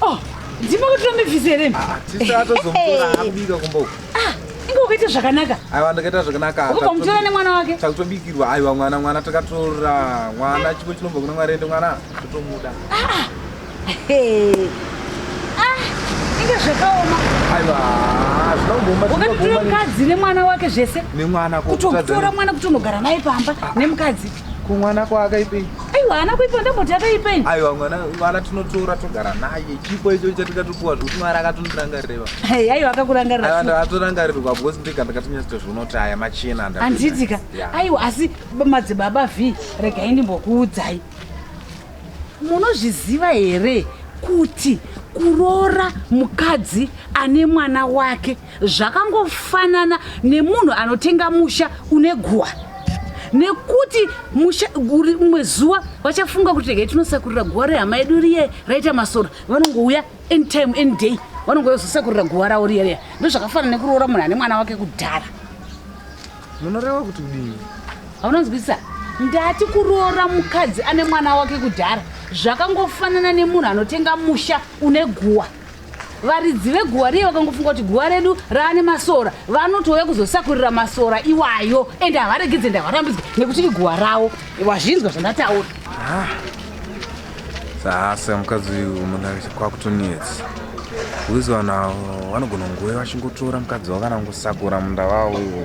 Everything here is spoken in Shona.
Oh, ndipo kuti vamivhize here? Ah, tisa atozomutora akubika kumba uko. Ah, inge ukaita zvakanaka. Aiwa ndakaita zvakanaka. Ukubva mutora nemwana wake. Takutobikirwa aiwa mwana mwana takatora mwana chipo chinobva kuna Mwari ende mwana totomuda. Ah. Hey. Ah, inge zvakaoma. Aiwa. Wakatotora mukadzi nemwana wake zvese. Nemwana kutotora mwana kutonogara naye pamba ah. nemukadzi. kumwana kwaakaipei aiwa haana kuipa ndamboti akaipei aiwa mwana mwana tinotora togara naye chipo icho chatikakupuwa zvekuti mwari akatonorangarireva Hey, aiwa akakurangarira atorangaririrwa because ndega ndakatonyatsotoziona kuti aya machena anda- handiitika Yeah. aiwa asi b- madzibaba v regai ndimbokuudzai munozviziva here kuti kuroora mukadzi ane mwana wake zvakangofanana nemunhu anotenga musha une guwa nekuti musha guri umwe zuva vachafunga kuti regai tinosakurira guwa rehama yedu riye raita masora vanongouya anytime any day vanongouya kuzosakurira guwa ravo riye riya ndozvakafanana nekuroora munhu ane mwana wake kudhara munoreva kuti kudii haunonzwisisa ndati kuroora mukadzi ane mwana wake kudhara zvakangofanana nemunhu anotenga musha une guwa varidzi veguva riye vakangofunga kuti guva redu raane masora vanotouya kuzosakurira masora iwayo ende havaregedze ndavarambidzwe nekuti iguva ravo wazvinzwa zvandataura ah. sasa mukadzi uyu kwakutonetsa uizi vanhu avo vanogona nguve vachingotora mukadzi wavo kana kungosakura munda vavo ivo